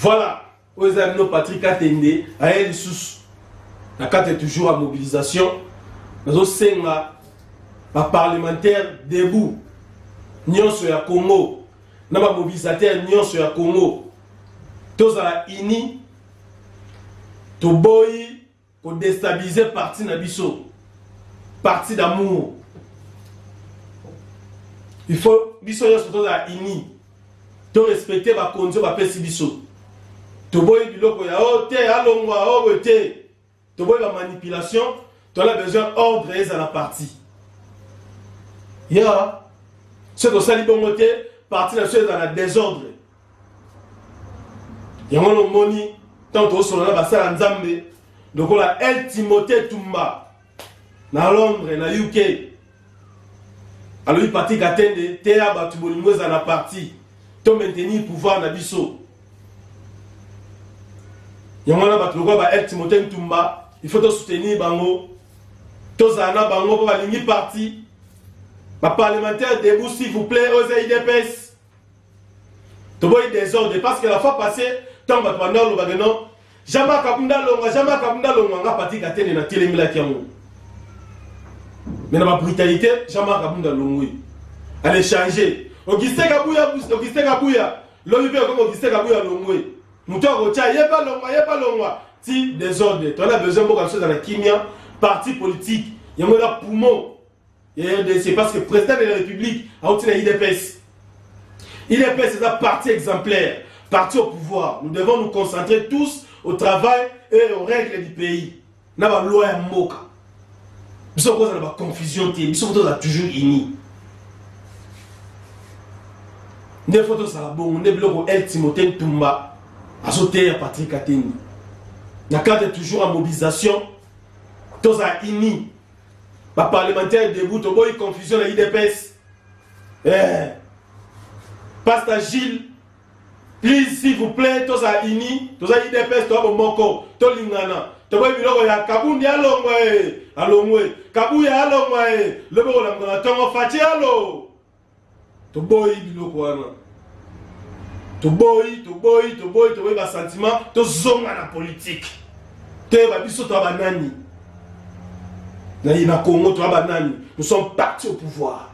Voilà, oyo eza bino Patrick Atende aye lisusu na kati toujours ya mobilisation nazosenga baparlementaire debout nyonso ya Congo na bamobilisateur nyonso ya Congo tozala uni toboyi ko destabiliser parti na biso parti d'amour il faut biso nyonso tozala unis to respecte bakonzi oyo bapesi biso toboyi biloko ya o te alongwa o boye te toboyi bamanipulation tola besoin ordre ezala parti ya soki tosali bongo te parti na biso ezala na desordre yango nomoni ntango tokosolola na basala nzambe lokola el timote tumba na londres na uk alobi patrik atende teya bato bolingo ezala na parti to maintenir pouvoir na biso yango wana bato lokola ba el timote ntumba il faut tosoutenir bango tozala na bango mpo balingi parti baparlementaire debout s'il vous plaît oza idps toboyi desordre parce que la fois passée ntango bato banda olobake non jama kabunda longwa jama kabunda longwa nga pati katene na telemelaki yango me na babrutalité jama kabunda longwi ale change augustin kabuya augustin kabuya lobi mpe okomi augustin kabuya longwe moto akotya ye balongwa ye balongwa ti desordre toana besoin mboka biso ezala kimia parti politique yango eza poumon ya rdc parce que président de la république auti na idps idps eza parti exemplaire parti au pouvoir nous devons nous concentrer tous au travail et aux règles du pays na baloi ya mboka biso kozala baconfusion te biso fo tozala toujours unis nde fo tozala bongo nde biloko el timote ntumba azoteya patrik atendi na cadre toujours ya mobilisation tozala unis ba parlementaire debout toboyi confusion na idps eh. pasta gilles please s'il vous plaît toza ini toza idps toza bomoko tolingana toboyi biloko ya kabundi alongwe alongwe kabuya alongwe loboko na mokona tongo faci alo toboyi biloko wana toboyi toboyi toboyi toboyi basentiment tozonga na politike toyeba biso toa banani naye na congo toa banani nous sommes parti au pouvoir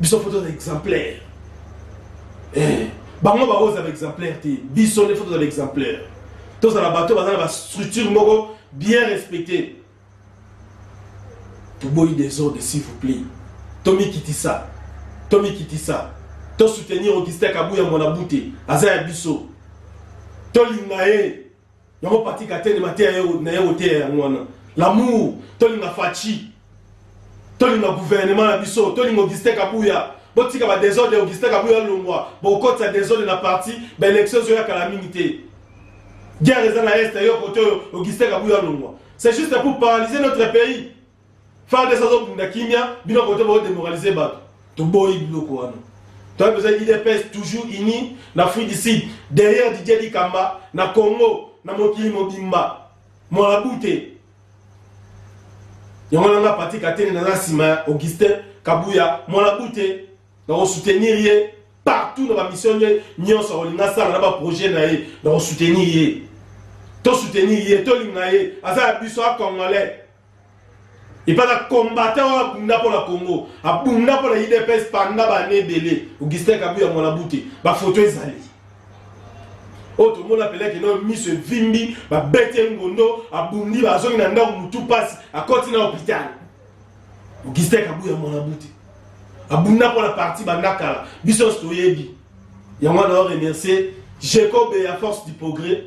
biso fo tozala exemplaire eh, bango bango ozala exemplaire te biso nde fo tozala exemplaire tozala bato baza na bastructure moko bien respectée toboyi desordre s'il vous plaît tomikitisa tomikitisa tosoutenir augustin kabuya mwana bute aza ya biso tolinga ye yango pati katene mateya na ye oteya yango wana lamour tolinga faci tolinga gouvernement na biso tolinga augustin kabuya botika badesordre augustin kabuya alongwa bokotisa desordre na parti baélection ezoya kala mingi te Guerre eza na est yo kote oyo Augustin Kabuya longwa. C'est juste pour paralyser notre pays. Fardesa azobunda kimia bino kote bao demoraliser bato. Toboyi biloko wana. Toi besoin IDPS toujours unis na fruit du sud derrière Didier Dikamba na Congo na mokili mobimba. Mwana bute. Yango nanga Patrick Atene na nsima Augustin Kabuya mwana bute. nakosoutenir ye partout na bamission nde nyonso akolinga asala na baprojet na ye nakosoutenir ye tosoutenir ye tolinga ye aza ya biso a congolais epai na combatant oyo abunda mpo na congo abunda mpo na idps panda bane ebele augustin kabu ya mwana bute bafoto ezali oyo tomona peleke nayo miso evimbi babeti ye ngondo abundi bazongi na ndako motu mpasi akoti na hopitale Augustin Kabuya mwana mbuti abunda mpo na parti banda kala biso nyonso toyebi yango wana oremercie Jacob ya force du progrès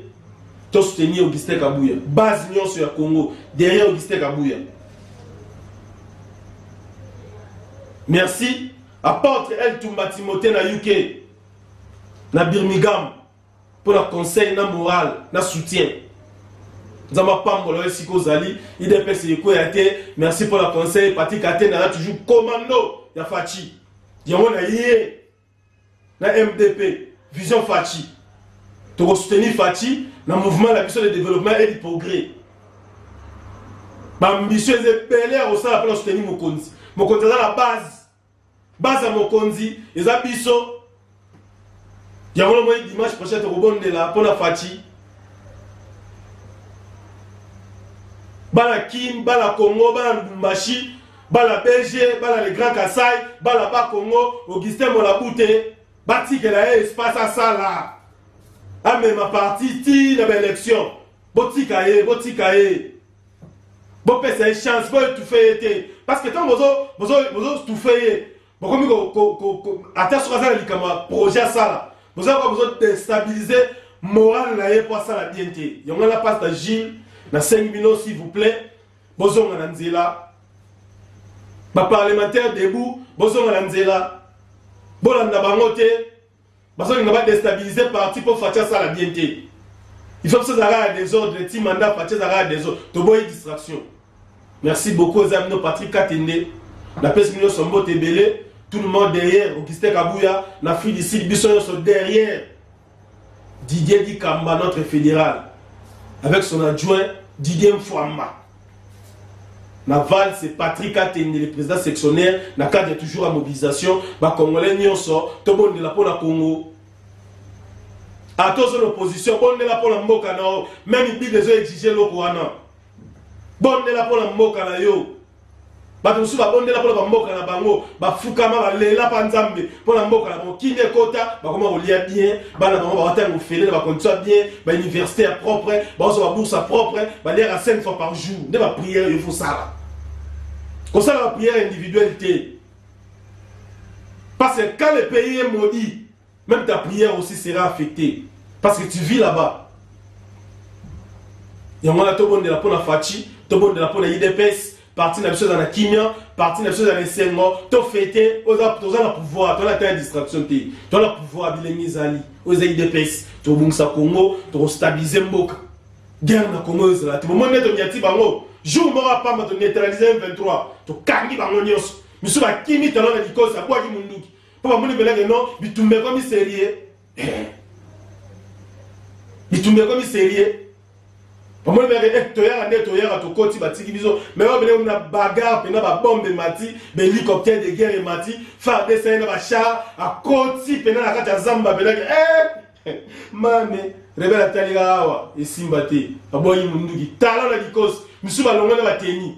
to soutenir Augustin Kabuya base nyonso ya Congo derrière Augustin Kabuya merci apôtre El Tumba Timothée na UK na Birmingham mpo na conseil na moral na soutien nzambe apambola yo esika ozali idps ekweya te merci mpo na conseil pati katenda aza toujours commando ya faci yango na ye na mdp vision faci tokosoutenir faci na mouvement na biso de développement et de progrès bambisio eza ebele ya kosala mpo na soutenir mokonzi mokonzi aza na base Baza mokonzi eza biso yango na moi dimanche prochain tokobondela mpo na faci bana kin bana congo bana lubumbashi bana belge bana le grand kasai bana ba congo augustin molabute batikela ye espace asala amema parti ti na baélection botika ye botika ye bopesa ye chance boetufe ye te parce que ntango bozotufe ye bokomi ata soki aza na likambo ya projet asala bozoka bozodestabilize morale na ye mpo asala bien te yango na pasta gile nasengi bino s'il vous plaît bozonga na nzela baparlementaire debout bozonga na nzela bolanda bango te Bazolinga ba destabiliser parti po Fatshi asala bien te. Il faut biso ezalaka ya desordre ti mandat Fatshi ezalaka ya desordre. Toboyi distraction. Merci beaucoup eza bino Patrick Katende. Napesi bino nyonso mbote ebele. Tout le monde derrière Augustin Kabuya na Free du Sud biso nyonso derrière. Didier Dikamba notre fédéral avec son adjoint Didier Mfwamba. na valse Patrick Atende le président sectionnaire na cadre ya toujours ya mobilisation bakongolais nyonso tobondela mpo na Congo ata ozo na opposition bondela mpo na mboka na yo meme bible ezo exige eloko wana bondela mpo na mboka na yo Bato mosusu babondela mpo na bamboka na bango, bafukama, balela mpa Nzambe mpo na mboka na bango. Kimia ekota, bakoma kolia bien, bana bango bawata yango ofele na bakondisio ya bien, bauniversité ya propre, baozwa babourse ya propre, baliaka 5 fois par jour. Nde bapriere yo fosala, kosala bapriere individuelle te, parce que quand le pays est maudit Même ta prière aussi sera affectée parce que tu vis là-bas. yango wana tobondela mpo na faci tobondela mpo na idps parti na biso eza na kimia parti na biso eza na esengo tofete toza na pouvoir toza na ta ya distraction te toza na pouvoir bilenge ezali oyo eza idps tokobongisa congo tokostabilize mboka guerre na congo ezala te bomoni nde tonyati bango jour moko apamba toneutralize 23 tokangi bango nyonso misu bakimi talo na likosi abwaki munduki mpo bamoni mpela keno bitumba ekomi serie eh. bitumba ekomi serie bamoni mpela ke eh, toyaka nde toyaka tokoti batiki biso me oyo bele na bagare mpena babombe emati bahélicoptère de guerre emati fardc ye na bachar akoti mpena na kati ya zamba mpelake eh. mame rebele atalika awa esimba te aboyi monduki tala na likosi misusu balongwe na bateni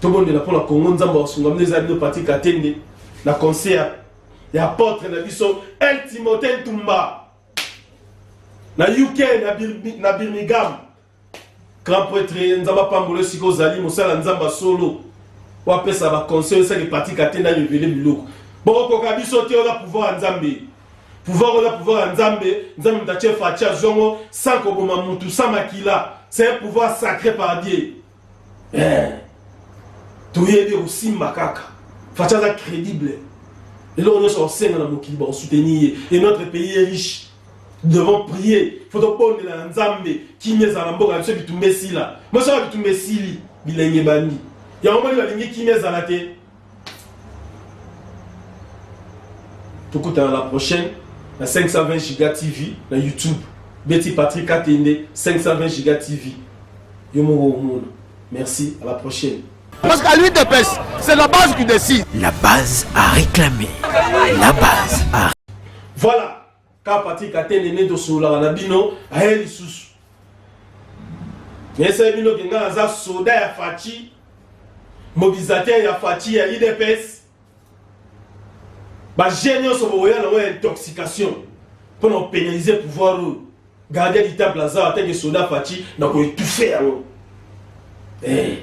tobondela mpo na kongo nzambe akosunga mino eza bino pati katende na concert ya apotre na biso el timote ntumba na uk na, bir, na birmingham grand pretre nzambe apambolo esika ozali mosala nzambe solo wapesa baconseil esaki pati katende arevele biloko bokokoka biso te oza pouvoir ya nzambe Pouvoir oza pouvoir ya Nzambe, Nzambe mtache fachi azongo sans koboma mutu sans makila. C'est un pouvoir sacré par Dieu. Eh. Toyebi osimba kaka. Fachi aza crédible. eloko nyonso bakosenga na mokili bakosoutenir ye et notre pays est riche devons prier fo tobondela na nzambe kimia ezala na mboka na biso bitumba esila mosoka bitumba esili bilenge bandi yango moni balingi kimia ezala te tokutana la prochaine na 520 giga tv na youtube beti patrick atende 520 giga tv yo moko omona merci à la prochaine Parce qu'à lui de pêche, c'est la base qui décide. La base a réclamé. La base a... Voilà. Ka Patrick Atene nde tosololaka na bino aye lisusu. Nayesaye bino ke ngai naza soda ya Fachi, mobilisateur ya Fachi ya UDPS. Baje nyonso bokoya nango ya intoxication mpo na kopénaliser pouvoir oyo gardien du temple aza atake soda Fachi na koetufe yango. Eh.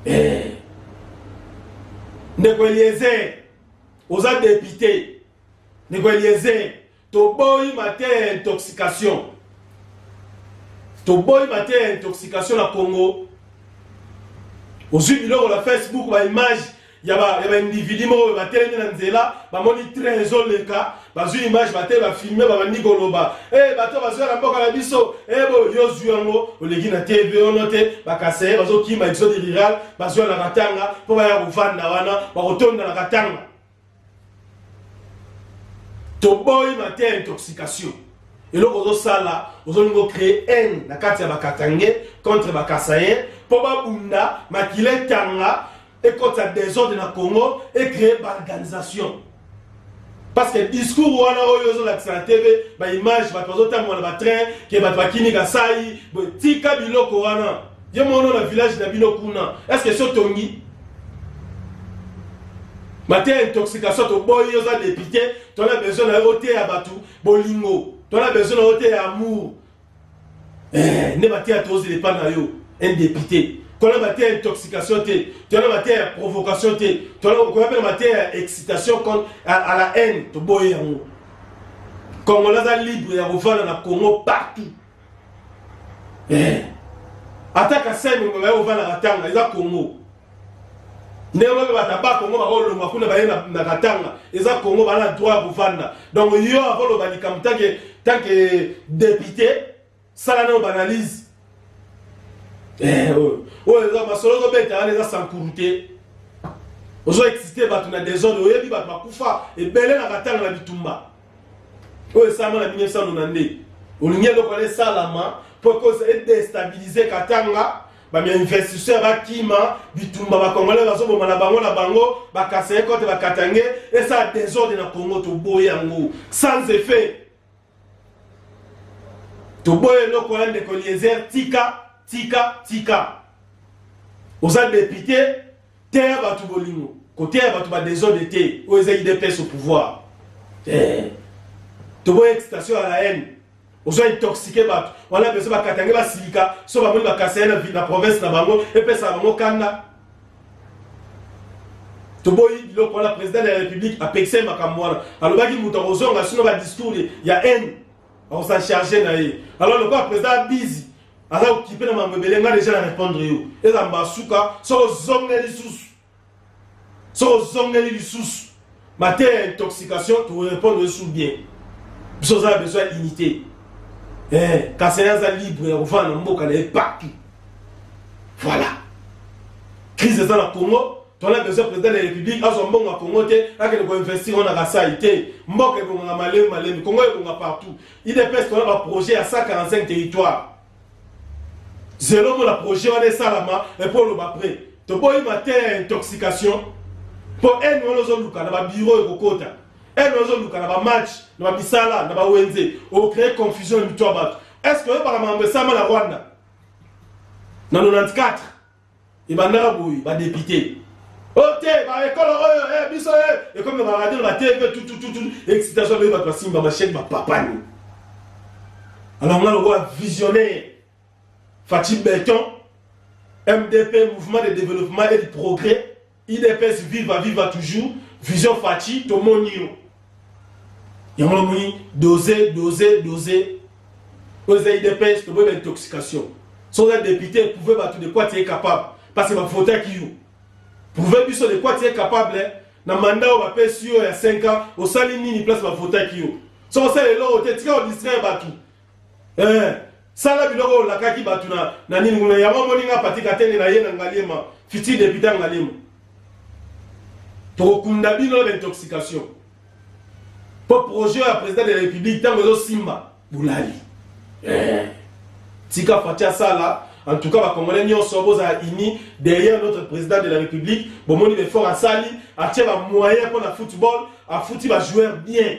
Eh. ndeko eliezer oza depute Ndeko Eliezer, toboyi mateya ya intoxication, toboyi mateya ya intoxication na Congo. Ozwi biloko na Facebook ba image ya ba ya ba individu moko oyo batelemi na nzela, bamoni train ezoleka, bazwi image bate bafilme, babandi koloba eh, bato bazwa na mboka na biso eh, bo yo ozwi yango oleki na TV ono te, bakaseye bazokima exode rural, bazwa na Katanga mpo baya kovanda wana, bakotonda na Katanga. toboyi mateya intoxication eloko ozosala ozolingi ocree haine na kati ya bakatange contre bakasayen mpo babunda makila etanga ekotisa desordre na congo ecree baorganisation parce que discours wana oyo ozolakisa na tv baimage bato bazotambola na batrain ke bato bakini kasai tika biloko wana Ye mwana na village na bino kuna, est-ce que so tongi? mateya intoxication toboyi oza depute tona besoin na yo oteya bato bolingo tona besoin na yo oteya amour eh, nde mateya tozela epa na yo un depute tona mateya ya intoxication te tona mateya ya provocation te tonakoya mpe na mateya ya excitation à la haine toboyi yango kongola aza libre ya kovanda na congo partout eh. ata kasai monganga yo ofandaka tanga eza kongo ndenge moko bata ba kongo bakolongwa kuna baye na katanga eza kongo bana na droit ya kofanda donc yo akoloba likambo tanke tanke depute sala nao baanalyse eh, oyo oyo eza masolo ozobeta wana eza sankuru te ozo excite bato na desordre oyebi bato bakufa ebele na katanga na bitumba oyo esalama na 1992 olingi eloko wana esalama mpo ekosa edestabilize katanga bainvestisseur bakima bitumba bakongole bazoboma na bango na bango bakaseye kote bakatange esala desordre na congo toboye yango sans effet toboye eloko wana ndeko eliezer tika tika tika oza depute Teya batu bolingo, koteya batu ba desordre te. Oyo eza UDPS au pouvoir. Eh. Toboya excitation ya la haine. ozo intoxique bato wana bezo bakatange basilika so bamoni bakasa ye na province na bango epesaka bango kanda toboyi biloko wana président de la république apekisa ye makambo wana alobaki moto akozonga sino badiscours ya haine akosa charge na ye alors lokola président abizi aza okipe na mambo ebele nga deja na répondre yo eza mbasuka soki ozongeli lisusu soki ozongeli lisusu mateya ya intoxication tokorépondre yo su bien biso oza na besoin ya unité eh, kasaya aza libre ya kovanda na mboka na ye partout voilà crise eza na congo tona besoin président ya république azwa mbongo ya congo te akende koinvestir wana kasai te mboka ebongaka malemi malemi congo ebonga partout udps tona ba projet ya 145 territoire zelo mona projet wana esalama epo oloba pre toboyi mateya ya intoxication mpo ene wana ozoluka na babiro ekokota ene wana ozoluka na bamatch na bamisala na bawenze ocree confusion na mito ya bato est ce que oyebaka makambo esama na rwanda na 94 ebandaka boye ba député ote oh, ba ekolo oyo oh, eh, biso eh, ekomi ba radio ba tv tutututu excitation baye bato basimba machete bapapani alors nga lokola visionnaire faci beton mdp mouvement de développement et de progrès Udps viva viva toujours vision Fatshi tomoni yo yango namoni dose dose dose oyo eza udps toboyi ba intoxication so oza depute eprouve bato de quoi tu es capable parce que bavotaki yo prouve biso de quoi tu es capable na manda oyo bapesi yo ya 5 ans osali nini place bavotaki yo so osala eloko te tika odistraire bato eh, sala biloko oyo olakaki bato na, na nini kuna yango omoni nga pati katenge na ye na ngaliema fiti depute ngaliema tokokunda bino na baintoxication mpo projet ya président de la république ntango ezosimba bolali eh. tika fati asala en tout cas bacongolais nyonso bozala uni derrière notre président de la république bomoni befort asali atie bamoyen mpo na football afuti bajoueur bien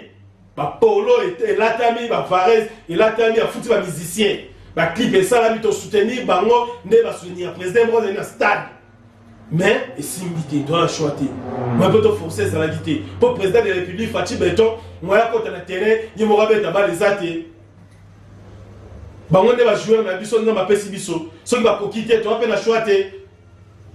ba polo ete elatami ba varese elatami afuti ba musicien ba clip esalami to soutenir bango nde ba soutenir président moko azali na stade mais esimbi te toza na choix te mai mpe toforce ezalaki te mpo président de la république faci beton moya akota na terrain ye moko abeta bale eza te bango nde bajoueur na biso nzambe apesi biso soki bakoki te toza mpe na choix te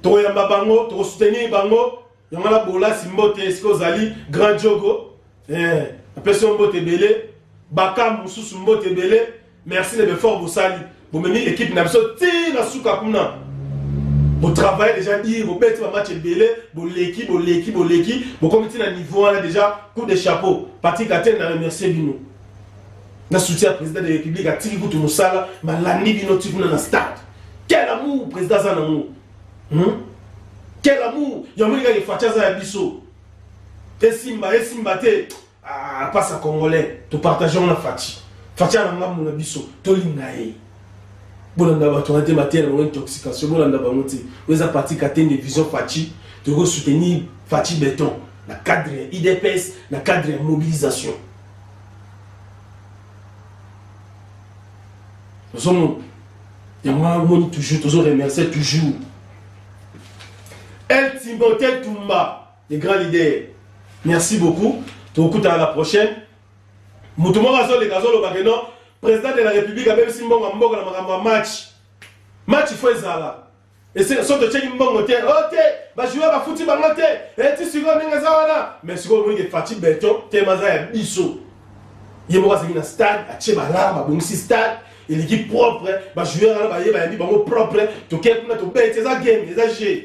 tokoyamba bango tokosoutenir bango yango na bolasi mbote esika ozali grand jogo eh, apesi yo mbote ebele bakambu mosusu mbote ebele merci na befort bosali bomemi ekipe na biso ti na suka kuna botravaille déjà dire bobeti bamatch ebele boleki boleki boleki bokomi ti na niveau wana déjà coup de chapeau patrick atene na remercie bino na soutien ya président de république atiki kutu mosala malandi bino ti kuna na stade quel amour président aza nango hmm? quel amour yango lingaka efaci aza ya biso esimba esimba te ah, pasa congolais topartageango na faci faci ana ngambo na biso tolinga ye bolanda bato wana te mateya na bango intoxication bolanda bango te oyo eza parti katende vision faci tokoki kosoutenir faci beton na cadre ya idps na cadre ya mobilisation ozomona yango wana omoni toujours tozo remercier toujours el timbote tumba le grand leader merci beaucoup tokutana la prochaine moto moko azoleka azoloba ke non président de la république abebisi mbongo ya mboka na makambo ya match match fo ezala esika soki totyeki mbongo te o oh, te bajoueur bafuti bango te eti eh, sikoyo ndenge eza wana mais sikoyo omoni ke fati beton tema aza ya biso ye moko azalaki na stade atye balare babongisi stade eleki propre bajoueur wana baye bayambi bango propre tokei kuna tobeti eza game eza jeu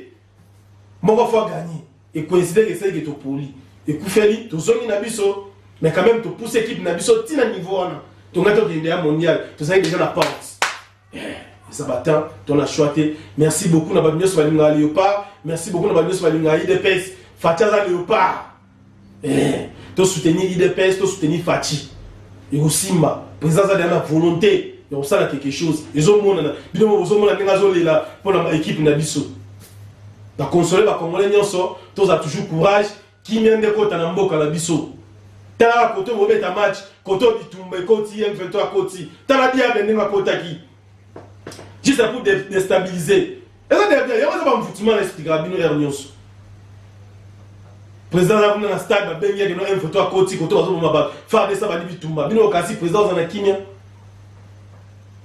moko fo aganye ekoinsideke esalike topoli ekufeli tozongi na biso mais quand même topousse équipe na biso ntina niveau wana tongaki tokende ya mondial tozalaki deja na porte eza batemp to na choix te merci beaucoup na bato nyonso balingaka leopard merci beaucoup na bato nyonso balingaka idps fati aza leopard eh, to soutenir idps to soutenir fati ekosimba président aza deya na volonté ya kosala quelque chose ezomonana bino bozomona ndenge azolela mpo na baekipe na biso bakonsole bakongole nyonso tozala toujours courage Kimia nde ekota na mboka na biso. Tala koto bobeta match, koto bitumba ekoti, M23 akoti. Tala diable ndenge akotaki. Juste pour déstabiliser. Eza derrière, yango eza bamvutima na esplikaka bino heure nyonso. Président aza kuna na stade babengi yake no M23 akoti koto bazoboma bato. FARDC abandi bitumba. Bino okasi président oza na kimia.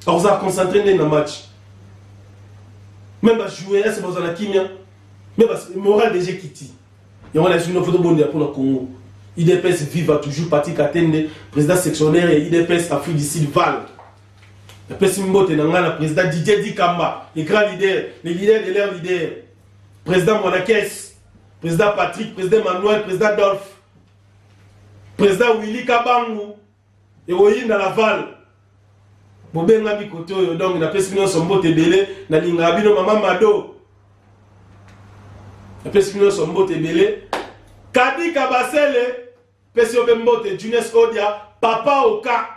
Akozala concentré nde na match. Même ba joueurs, est-ce que bazala kimia? Mais moral déjà kiti. yango na esili foto bondela mpo na congo idps viva toujours pati katende président sectionnaire ya idps afrique du sud val napesi mbote na ngai na président didier dikamba le grand leader le leader de leur leader président mwanakes président patrick président manuel président dolphe président willy kabangu ekoyinda laval bobengami kote oyo donc napesi nyonso mbote ebele nalingaka bino mama mado napesi bino nyonso mbote ebele kadika basele pesi yo mpe mbote junes odia papa oka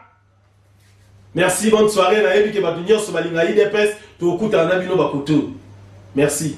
merci bonne soirée nayebi ke bato nyonso balinga idps tokokutana na bino bakote oyo merci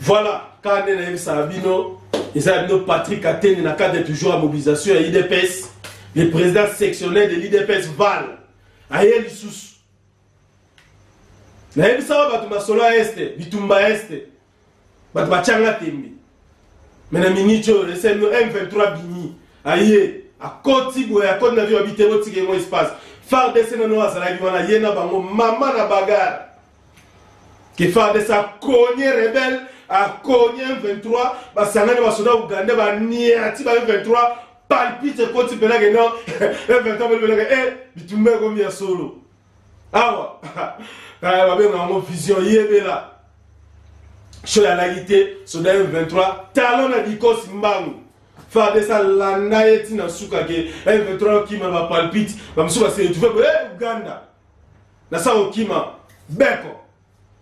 Voilà, quand on a ça bino, ils ont bino Patrick Atene na cadre toujours à mobilisation à l'IDPS, le président sectionnel de l'IDPS Val, à Yelisous. Na yebisa bato masolo ya este bitumba ya este bato batyanga tembe me na miniti oyo esemi m23 bimi aye akoti boye akoti na vio ya bitebo tika yango espace fardc nano azalaki wana ye na bango mama na bagare kifades akonye rebel akonye m23 basangani basoda uganda baniati ba m23 palpite ekoti mpenake no m23 belobelaka e eh, bitumba ekomi ya solo awa kaya babenga yango vision yebela sho yalaki te soda m23 talo na dikosi mbangu fades alanda ye ntina suka ke m23 okima na bapalpite bamosusu baseretrouve boye eh, uganda na sa kokima beko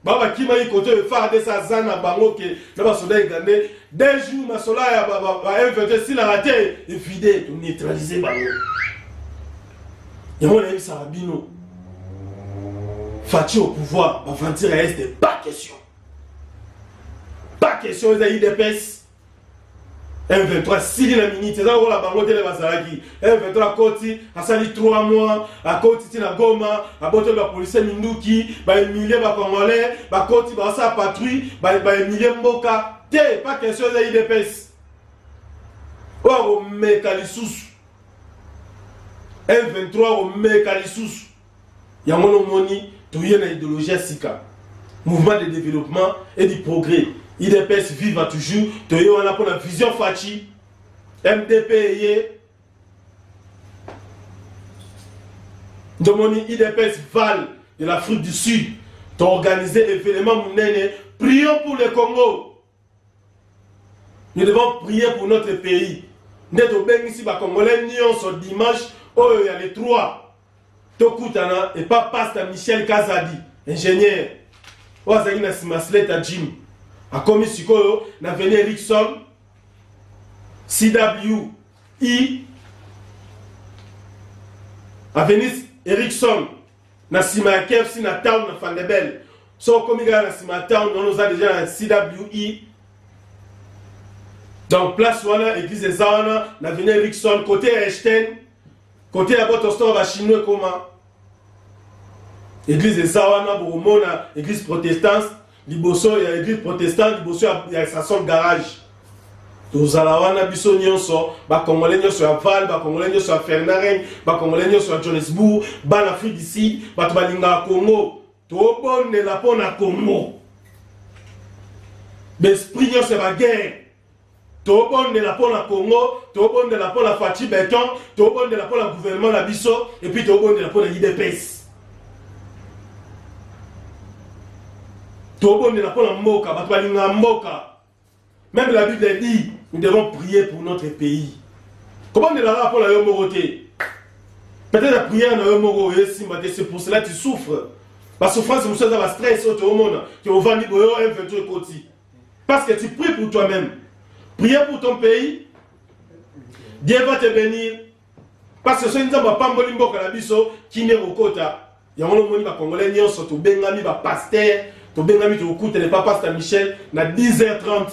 ba bakima ye kote oyo fardc aza na bango ke na basoda egande deux jours masola ya bainvete esilaka te evide toneutralize bango yango nayebisaka bino faci au pouvoir baventure ya este pas question pas question eza idps M23 asili na miniti eza lokola bango tele bazalaki M23 akoti asali 3 mois akoti ti na Goma abotoli bapolisie minduki baemilie bacongolais bakoti basala patrouille baemilie mboka te pa question eza idps oyo akomeka lisusu M23 akomeka lisusu yango no moni toye na idéologie ya sika mouvement de développement et du progrès idps viva toujours toye wana mpo na vision faci mdp eye ndomoni idps val de l'afrique du sud toorganize evenement monene prions pour le congo Nous devons prier pour notre pays. Nde tobengisi ba Congolais nyonso dimanche oyo ya le 3 tokutana epa pasta Michel Kazadi ingénieur oyo azalaki na nsima sleta jim akomi sikoyo na veni Erickson CWI e. avenue Erickson na sima ya KFC na town na Fandebel so okomi kaka na sima ya town wana oza deja na CWE donc place wana église eza wana na vene Erickson côté ya Einstein côté ya Botostor ba chinois koma église eza wana bokomona église protestante liboso ya eglise protestante liboso ya, ya sasol garage tozala wana biso nyonso bakongole nyonso ya val bakongole nyonso ya fernaren bakongole nyonso ya johannesbourg bana afrique du sud bato balingaka congo tobondela mpo na congo baesprit nyonso ya baguerre tobondela mpo na congo tobondela mpo na faci beton tobondela mpo na gouvernement na biso epuis tobondela mpo na idps tobondela mpo na mboka bato balingaka mboka meme la bible dit nous devons prier pour notre pays kobondela kaka mpo na yo moko te peut-être la prière na yo moko oyo esimba te c'est pour cela tu souffres basouffrance mosusu eza bastress oyo toomona ke ovandi boyo m23 ekoti Parce que tu pries pour toi-même. Priez pour ton pays. Dieu va te bénir. Parce que soki nzambe apamboli mboka na biso kimia kokota yango lomoni bakongolais nyonso tobengami bapaster tobengami tokokutana epa paster michel na 10h30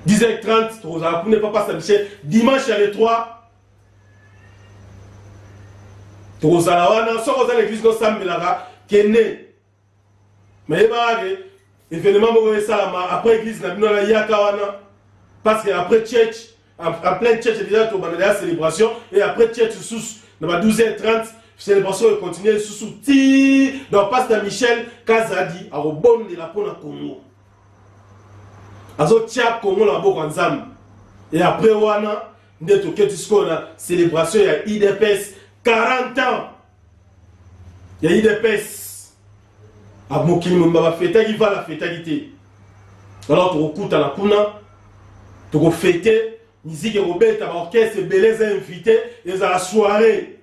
10h30 tokozala kuna epa paster michel dimanche ya le 3 tokozala wana soki oza na eglise nosambelaka kende mayebaka ke evenement moko esalama après église na bino nayaka wana parce que après church en plein church déjà tobanda deya célébration et après church susu na ba 12 h 30 célébration econtinue susu ti donc pasteur michel kazadi akobondela mpo na congo azotia congo na maboko ya nzambe e après wana nde toketi sikoyo na célébration ya idps 40 ans ya idps ah, mokili mobimba bafetaki vala afetaki te alors tokokutana kuna tokofete miziki ekobeta baorchestre ebele eza invité ezala soirée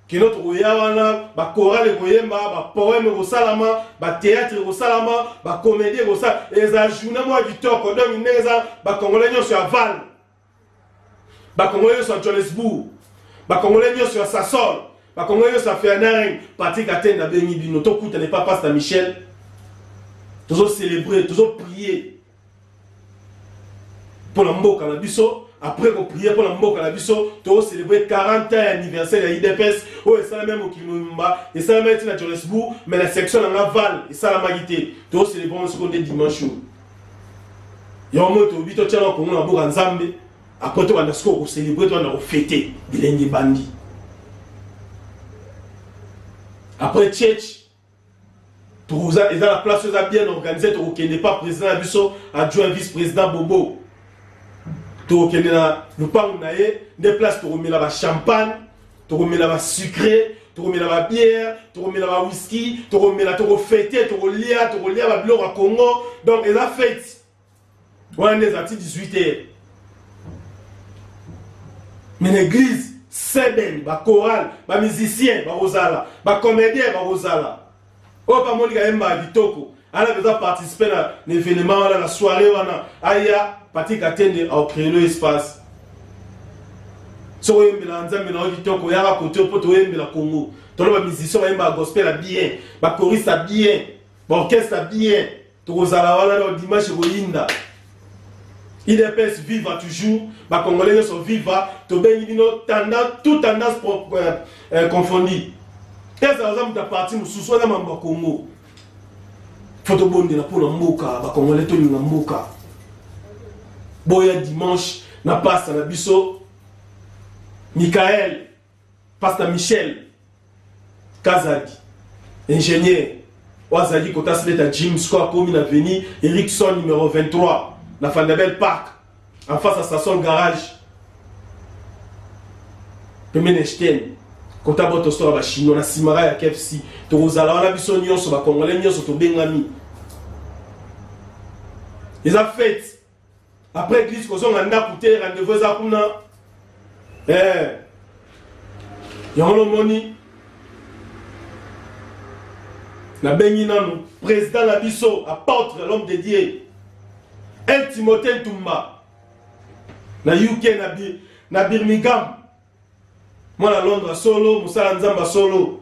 kino tokoya wana bakorale ekoyemba bapoeme ekosalama bateatre ekosalama bakomedi ekosala eza journée moko kitoko donc ndenge eza bakongole nyonso ya vale bakongole nyonso ya johannesbourg bakongole nyonso ya sasol bakongole nyonso ya fernering patrik atene nabengi bino tokutana epa pasta michel tozo celebre tozo prie mpo na mboka na biso après koprie mpo na mboka na biso tocelebre 40 ans ya anniversaire ya idps oyo esalami ya mokili mobimba esalamaki ti na johannesbourg mais na section na nga val esalamaki te tocelebre yango soko nde dimanche oyo yango moi tolobi totyaka kongo na boka nzambe apres tobanda sikoyo kocelebre tobanda kofete bilenge bandi apres church tokoza eza na place eza bien organise tokokende pa président na biso adjoint vice président bobo tokokende na lopango na ye nde place tokomela bachampagne tokomela ba sucre tokomela ba bière tokomela ba whisky tokomela tokofete tokolia tokolia ba biloko ya congo donc eza fete wana nde eza ti 18 heure mais na église seben bachoral bamusicien bakozala bacomédien bakozala oyo pa monika ayembaka kitoko ana mpenza participe na evenema wana na soirée wana aya pati katende aocreelo espace soki oyembelaka nzambe na yo kitoko yaka kote mpo toyembela congo tolo bamusicien bayembaka gospel ya bien bakoriste ya bien baorchestre ya bien tokozala wana no dimanche ekoyinda idps viva toujours bacongolais nyonso viva tobengi bino tout tendance euh, euh, confondi ezala oza moto ya parti mosusu wana mambo ya congo fo tobondela mpo na mboka bacongolais tolinga mboka boya dimanche na pasta na biso mikael Pasta Michel Kazadi, ingénieur oyo azalaki kotasleta Jim sikoyo akomi na veni Erickson numero 23 na Fandabel Park en face ya Sasol Garage pembeni ya Sten kota botostora bachinois na simara ya KFC tokozala wana biso nyonso bakongole nyonso tobengami eza fete après église kozonga ndako te rendez-vous eza kuna eh. yango lomoni nabengi nanu président na biso apôtre l'homme de dieu el timothée ntumba na uk na, bi, na birmingham mwana londres ya solo mosala ya nzambe ya solo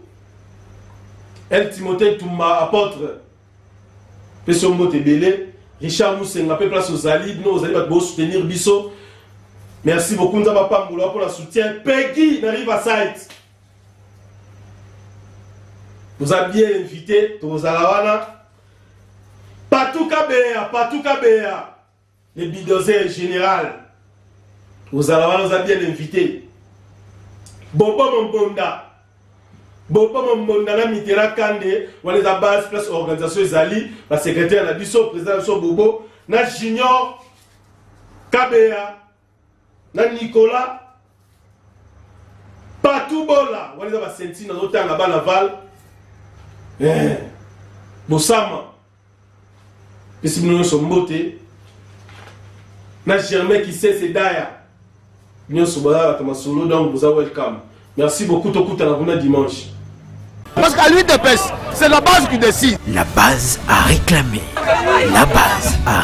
el timote tumba apotre pesi yo mbote ebele richard musenga mpe place ozali bino ozali bato bosoutenir biso merci beaucoup nzambe apambola mpo na soutien pegi na riverside oza bien invité tokozala wana patuka beya patuka beya Le bidozer general ozala wana oza bien invité bobo mombonda bobo mombonda na mitera kande wana eza base place organisation ezali basecretaire na biso président na biso bobo na junior kabeya na Nicolas Patou Bola wana eza basenti nazotanga bana Val eh, Bosama pesi bino nyonso mbote na Germain Kisese Daya nyonso baza bato masolo donc boza welcome merci beaucoup tokutana kuna dimanche Parce qu'à lui de pêche, c'est la base qui décide. La base a réclamé. La base a